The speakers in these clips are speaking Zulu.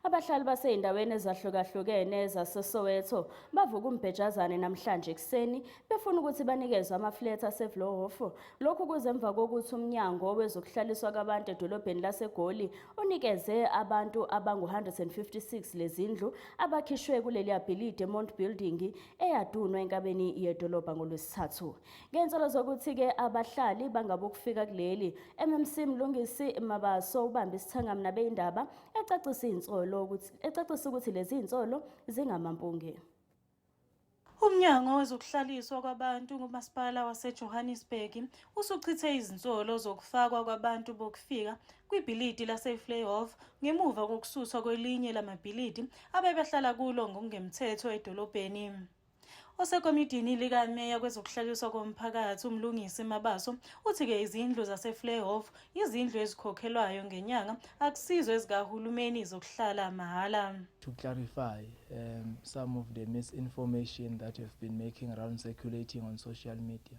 Abahlali baseyindaweni ezahlukahlukene zaseSoweto bavuka umbhejazane namhlanje ekuseni befuna ukuthi banikezwe amaflethi aseVlohof. Lokhu kuze emva kokuthi umnyango wezokuhlaliswa kwabantu edolobheni laseGoli unikeze abantu abangu-156 lezindlu abakhishwe kuleli abhilidi eMont Building eyadunwa enkabeni yedolobha ngoLwesithathu. Ngensolo zokuthi-ke abahlali bangabokufika kuleli, MMC Mlungisi Mabaso ubambe isithangami nabeyindaba ecacisa izinsolo ukuthi ecacisa ukuthi lezi zinsolo zingamampunge. Umnyango wezokuhlaliswa kwabantu kuMasipala waseJohannesburg usuchithe izinsolo zokufakwa kwabantu bokufika kwibhilidi laseFlayhof ngemuva kokususwa kwelinye lamabhilidi abebehlala kulo ngokungemthetho edolobheni. Osekomidini likameya kwezokuhlaliswa komphakathi uMlungisi Mabaso uthi-ke izindlu zaseFlayhof izindlu ezikhokhelwayo ngenyanga akusizo ezikahulumeni zokuhlala mahhala. To clarify um, some of the misinformation that have been making around circulating on social media.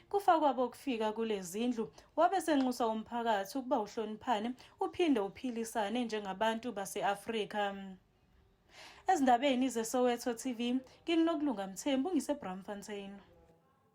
kufa kwabo ukufika kulezindlu wabe senxusa umphakathi ukuba uhloniphane uphinde uphilisane njengabantu base-Afrika ezindabeni zeSoweto TV nginokulunga Mthembu ngiseBramfontein